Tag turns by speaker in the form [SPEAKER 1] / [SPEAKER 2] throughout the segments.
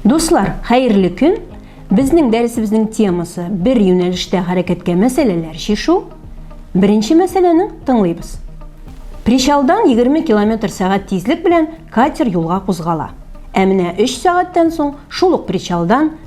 [SPEAKER 1] Дуслар, хәерле көн. Безнең дәресебезнең темасы бер юнәлештә хәрәкәткә мәсьәләләр чишү. Беренче мәсьәләне тыңлыйбыз. Причалдан 20 км сәгать тизлек белән катер юлга кузгала. Ә менә 3 сәгатьтән соң шул ук причалдан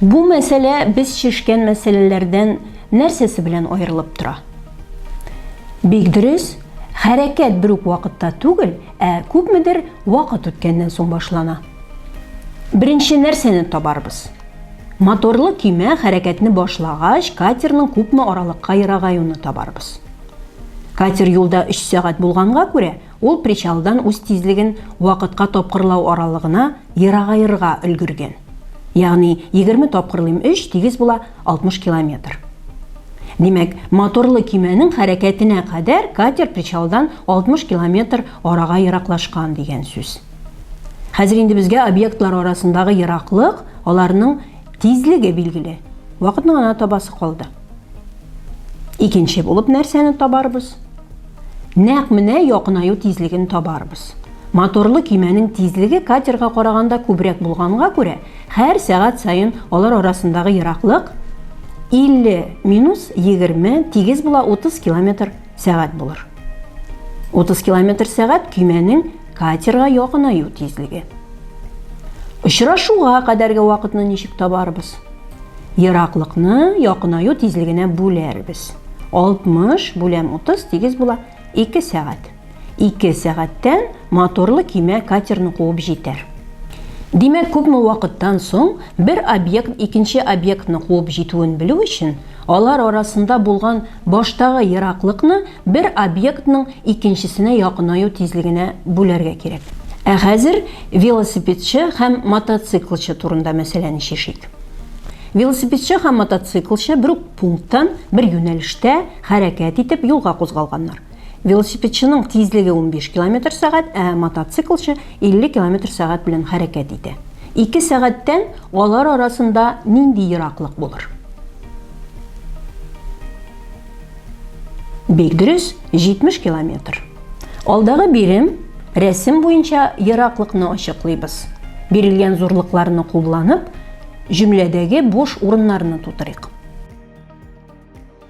[SPEAKER 1] Бу мәсьәлә без шешкән мәсьәләләрдән нәрсәсе белән аерылып тора? Бик дөрес, хәрәкәт бер үк вакытта түгел, ә күпмедер вакыт үткәннән соң башлана. Беренче нәрсәне табарбыз. Моторлы көймә хәрәкәтне башлагач, катерның күпме аралыкка ерагаюны табарбыз. Катер юлда 3 сәгать булганга күрә, Ул причалдан үз тизлеген вакытка тапкырлау аралыгына ерагаерга өлгергән. Ягъни егерме тапкырлыйм өч тигез була 60 километр. Димәк, моторлы көймәнең хәрәкәтенә кадәр катер причалдан 60 километр арага ераклашкан дигән сүз. Хәзер инде безгә объектлар арасындагы ераклык, аларның тизлеге билгеле. Вакытны гына табасы калды. Икенче булып нәрсәне табарбыз? Нәкъ менә якынаю тизлеген табарбыз. Моторлы кимәнең тизлеге катерга караганда күбрәк булганга күрә, һәр сәгать саен алар арасындагы ераклык 50 минус 20 тигез була 30 километр сәгать булыр. 30 км сәгать көймәнең катерга якынаю тизлеге. Очрашуга кадәрге вакытны ничек табарбыз? Ераклыкны якынаю тизлегенә бүләрбез. 60 бүләм 30 тигез була 2 сәгать. 2 сәгатьтән моторлы көймә катерны куып җитәр. Димәк, күпме вакыттан соң бер объект икенче объектны куып җитүен белү өчен Алар арасында булган баштагы ераклыкны бер объектның икенчесенә якынаю тизлегенә бүләргә кирәк. Ә хәзер велосипедчы һәм мотоциклчы турында мәсьәләне чишик. Велосипедчы һәм мотоциклчы бер үк пункттан, бер юнәлештә хәрәкәт итеп юлга кузгалганнар. Велосипедчының тизлеге 15 километр сәгать, ә мотоциклчы 50 километр сәгать белән хәрәкәт итә. Ике сәгатьтән алар арасында нинди ераклык булыр? Бик дөрес, 70 километр. Алдагы бирем рәсем буенча ераклыкны ачыклыйбыз. Бирелгән зурлыкларны кулланып, җөмләдәге буш урыннарны тутырыйк.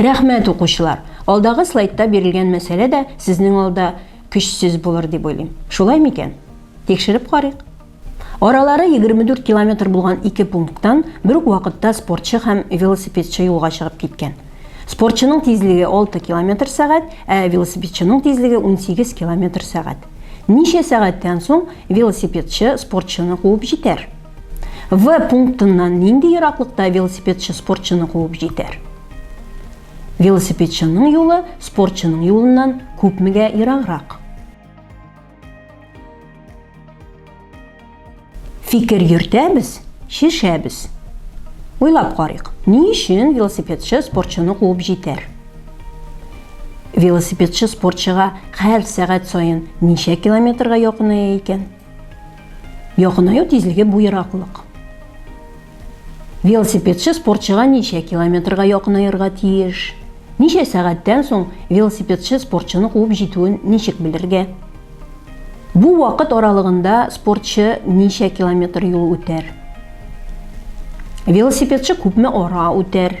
[SPEAKER 1] Рәхмәт, укучылар! Алдагы слайдта бирелгән мәсьәлә дә сезнең алда көчсез булыр дип уйлыйм. Шулай микән? Тикшереп карыйк. Аралары 24 километр булган ике пункттан бер үк вакытта спортчы һәм велосипедчы юлга чыгып киткән. Спортчының тизлеге 6 километр сәгать, ә велосипедчының тизлеге 18 километр сәгать. Ничә сәгатьтән соң велосипедчы спортчыны куып җитәр? В пунктыннан нинди ераклыкта велосипедчы спортчыны куып җитәр? Велосипедчының юлы спортчының юлыннан күпмегә ераграк? Фикер йөртәбез, шешәбез. Уйлап карыйк, ни өчен велосипедчы спортчыны куып җитәр? Велосипедчы спортчыга һәр сәгать саен ничә километрга якыная икән? Якынаю тизлеге бу ераклык. Велосипедчы спортчыга ничә километрга якынаерга тиеш? Ничә сәгатьтән соң велосипедчы спортчыны куып җитүен ничек белергә? Бу вакыт аралыгында спортчы ничә километр юл үтәр? Велосипедчы күпме ара үтәр?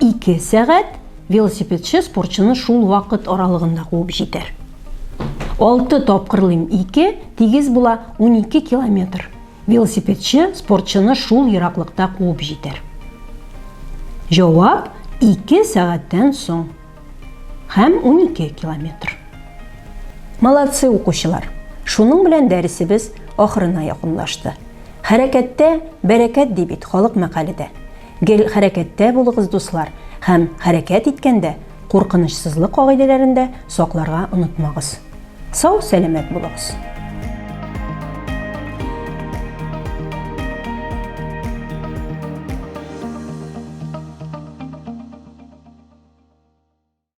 [SPEAKER 1] Ике сәгать велосипедчы спортчыны шул вакыт аралыгында куып җитәр. Алты тапкырлыйм ике, тигез була унике километр. Велосипедчы спортчыны шул ераклыкта куып җитәр. Җавап ике сәгатьтән соң һәм унике километр. Молодцы, укучылар! Шуның белән дәресебез ахырына якынлашты. Хәрәкәттә бәрәкәт ди бит халык мәкале дә. Гел хәрәкәттә булыгыз, дуслар, һәм хәрәкәт иткәндә куркынычсызлык кагыйдәләрен дә сакларга онытмагыз. Сау-сәламәт булыгыз!